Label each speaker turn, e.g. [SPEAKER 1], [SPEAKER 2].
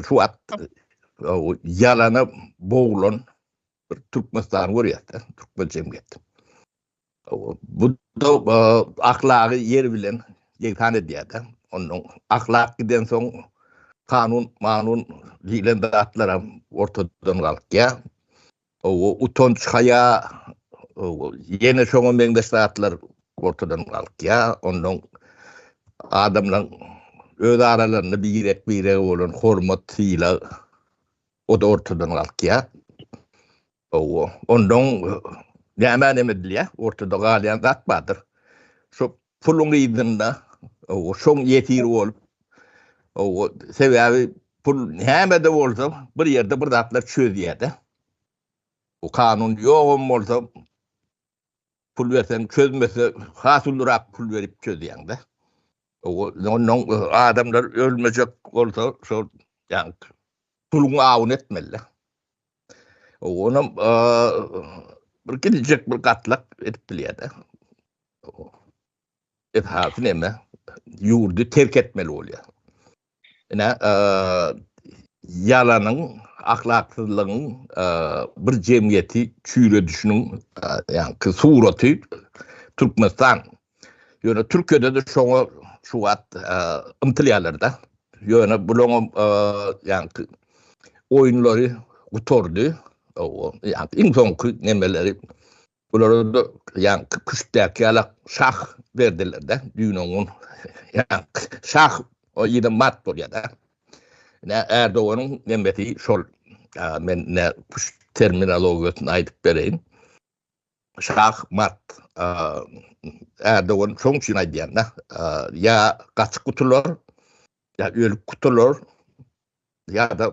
[SPEAKER 1] Şu at yalana boğulan bir Türkmenistan görýärdi, Türkmen cemiyeti. Bu da ahlagy yer bilen yeksan edýärdi. Onun ahlak giden son kanun, manun diýlen zatlar hem ortadan galkýar. Owo utanç haýa owo ýene şoňa meňzeş zatlar ortadan galkýa ondan adamlaň öz aralarynda birek birege bolan hormat sylag o da ortadan galkýa owo ondan näme näme edilýä ortada galýan zat bardyr şo Puluň yzynda şoň ýesir bolup, sebäbi pul nämede bolsa bir ýerde bir zatlar çözýärde. Bu kanun ýogam bolsa pul berseň çözmese has ulurak pul berip çözýäňde. Onnoň adamlar ölmejek bolsa şol puluň awuny etmelide. Onam bir gidijek bir gatlak edip bilýärde. Esasy näme? Ýurdy terk etmeli bolýar. Ine, ýalanyň, ahlaksyzlygyň bir jemgyýeti çüýredişiniň ýaňky suraty Türkmenistan. Ýöne Türkiýede-de şoňa şu wagt ymtylýarlar-da. Ýöne bularyň ýaňky oýunlary gutardy. Ýaňky iň soňky nemeleri Bulara-da ýaňky küştdäki ýala şah berdiler-de, düýn-oňňun ýaňky şah o ýerden mat bolýar-da. Ine, Ärdoganyň nemesi şol. Men ine küşt terminologiýasyny aýdyp bereýin. Şah mat. Ärdogan şoň üçin aýdýan-da, ýa gaçyp gutular, ýa ölüp gutular, ýa-da